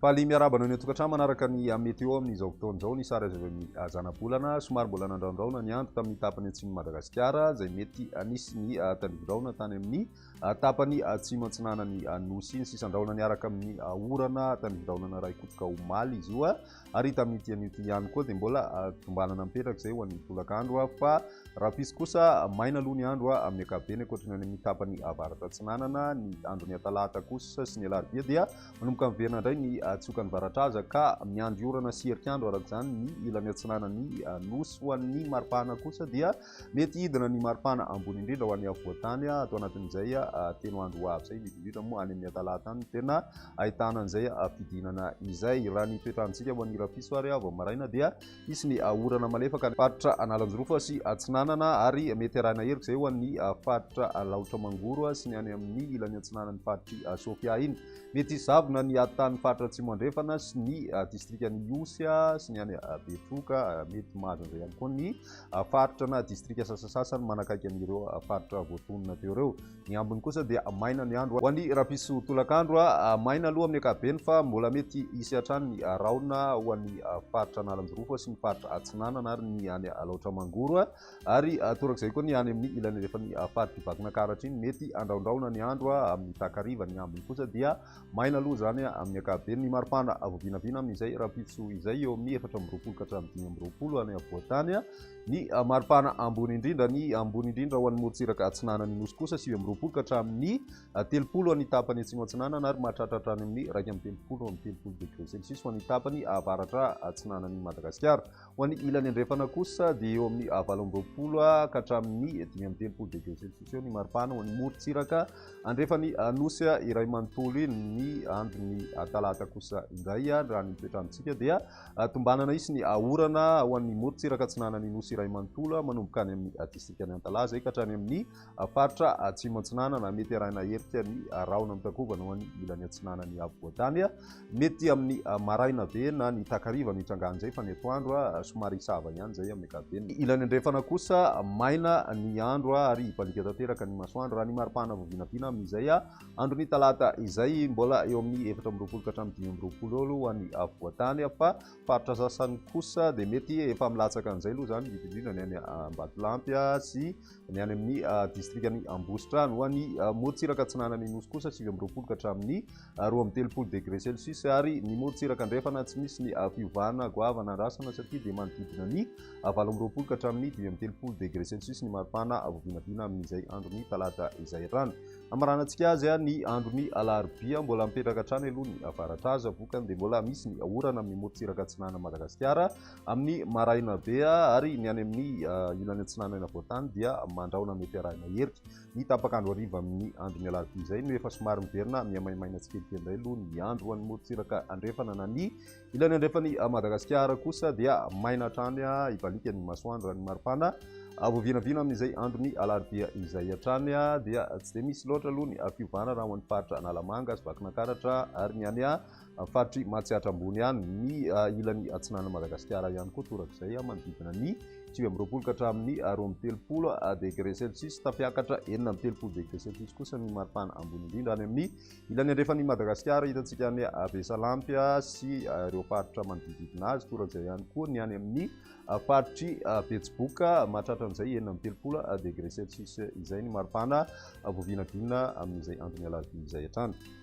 Faly miarahaba anao ny an-tokantrano manaraka ny meteo amin'izao fotoana izao ny sary azo avy amin'ny ah, zanabolana somary mbola nandraondraona ny andro tamin'ny tapany atsimon'i Madagasikara izay mety anisy ny ah, tandindraona tany amin'ny ah, tapany atsimo antsinanan'ny nosy ny sisandraona niaraka amin'ny orana tandindraonana raha ikotroka omaly izy io ary tamin'ity anio ity ihany koa dia mbola tombanana mipetraka izay ho an'ny tolakandro aho fa raha pisy kosa maina aloha ny andro aho amin'ny akabeny ankoatra ny any amin'ny tapany avaratra atsinanana ny andro ny atalahata kosa sy ny alarobia dia manomboka miverina indray ny atsioka ny varatra aza ka miandry orana sy herikandro araka izany ny ilany atsinanan'ny nosy ho an'ny maripahana kosa dia Mety hidina ny maripana ambony indrindra ho an'ny afovoan-tany ato anatin'izay telo andro ho avy izay, indrindra indrindra moa any amin'ny Atalata any no tena ahitana an'izay fidinana izay. Raha ny toetr'androntsika ho an'ny rahampitso ary vao maraina dia hisy ny orana malefaka any faritra Analanjirofo sy Atsinanana ary mety arahina heloka izay ho an'ny faritra Alaotra Mangoro sy ny any amin'ny ilany atsinanan'ny faritr'i Sofia iny. Mety hisy zavona ny atan'ny faritra Atsimo Andrefana sy ny distrikan'i Ihosy sy ny any Betroka, mety mahazo an'izay ihany koa ny faritra na distrika sasasasany manakaiky an'ireo faritra voatonona teo ireo. Ny ambiny kosa dia maina ny andro. Ho an'ny rapiso tolakandro, maina aloha amin'ny ankapobeny fa mbola mety hisy hatrany ny rahona ho an'ny faritra Analanjirofo sy ny faritra Atsinanana ary ny any Alaotra Mangoro ary torak'izay koa ny any amin'ny ilany andrefan'ny faritr'i Vakinakaratra iny. Mety handrahondrahona ny andro amin'ny takariva. Ny ambiny kosa dia Maina aloha izany amin'ny ankapobeny. Ny maripana vao vinavina amin'izay rahampitso izay eo amin'ny efatra amby roapolo ka hatramin'ny dimy amby roapolo any afovoan-tany. Ny maripana ambony indrindra, ny ambony indrindra ho an'ny morontsiraka atsinanan'ny Nosy kosa sivy amby roapolo ka hatramin'ny telopolo any tapany atsimo atsinanana ary mahatratra hatrany amin'ny iraika amby telopolo amby telopolo degré celsius ho an'ny tapany avaratra atsinanan'i Madagasikara. Ho an'ny ilany andrefana kosa dia eo amin'ny valo amby roapolo ka hatramin'ny dimy amby telopolo degré celsius eo ny maripana ho an'ny morontsiraka andrefan'ny nosy iray manontolo iny ny andron'ny talata kosa indray raha ny toetrandrontsika dia tombanana hisy ny orana ho an'ny morontsiraka atsinanan'ny nosy iray manontolo manomboka any amin'ny distrikan'i Antalaha izay ka hatrany amin'ny Faritra Atsimo Atsinanana, mety arahina hetsika ny rahona mitakobana ho any ilany atsinanan'i Afovoantany. Mety amin'ny maraina be na ny takariva no hitrangan'izay fa ny atoandro somary hisava ihany izay amin'ny ankapobeny. Ilany andrefana kosa maina ny andro ary hibaliaka tanteraka ny masoandro raha ny maripana vao vinavina amin'izay andron'ny talata izay. Mbola eo amin'ny efatra amby roapolo ka hatramin'ny dimy amby roapolo eo aloha ho an'i Afovoantany fa faritra sasany kosa dia mety efa milatsaka an'izay aloha izany indrindra indrindra ny any Ambatolampy sy Ny any amin'ny distrikan'i Ambositrano. Ho an'ny morontsiraka atsinanan'ny Nosy kosa sivy amby roapolo ka hatramin'ny roa amby telopolo degré Celsius ary ny morontsiraka andrefana tsy misy ny fiovana goavana andrasana satria dia manodidina ny valo amby roapolo ka hatramin'ny dimy amby telopolo degré Celsius ny maripana voavinavina amin'izay andron'ny talata izay hatrany. Hamaranantsika azy ny andron'ny alarobia mbola mipetraka hatrany aloha ny avaratra aza vokany dia mbola misy ny orana amin'ny morontsiraka atsinanan'i Madagasikara Amin'ny maraina be ary ny any amin'ny ilany atsinanana voatany dia mandrahona mety arahina herika. Ny tapaka andro hariva amin'ny andron'ny alarobia izay no efa somary miverina mihamaimaina tsikelikely indray aloha ny andro ho an'ny morontsiraka andrefana na ny ilany andrefan'i Madagasikara kosa dia maina hatrany hibaliaka ny masoandro raha ny maripana vao vinavina amin'izay andron'ny alarobia izay hatrany dia tsy dia misy loatra aloha ny fiovana raha ho an'ny faritra Analamanga sy Vakinakaratra ary ny any faritry Matsiatra ambony any, ny ilany atsinanan'i Madagasikara ihany koa torak'izay manodidina ny sivy amby roapolo ka hatramin'ny roa amby telopolo degré celsius, tafiakatra enina amby telopolo degré celsius kosa ny maripana ambony indrindra any amin'ny ilany andrefan'i Madagasikara, hitantsika any Besalampy sy ireo faritra manodididina azy, torak'izay ihany koa ny any amin'ny faritry Betsiboka mahatratra an'izay enina amby telopolo degré celsius izay ny maripana voavinavina amin'izay andron'ny alarobia izay hatrany.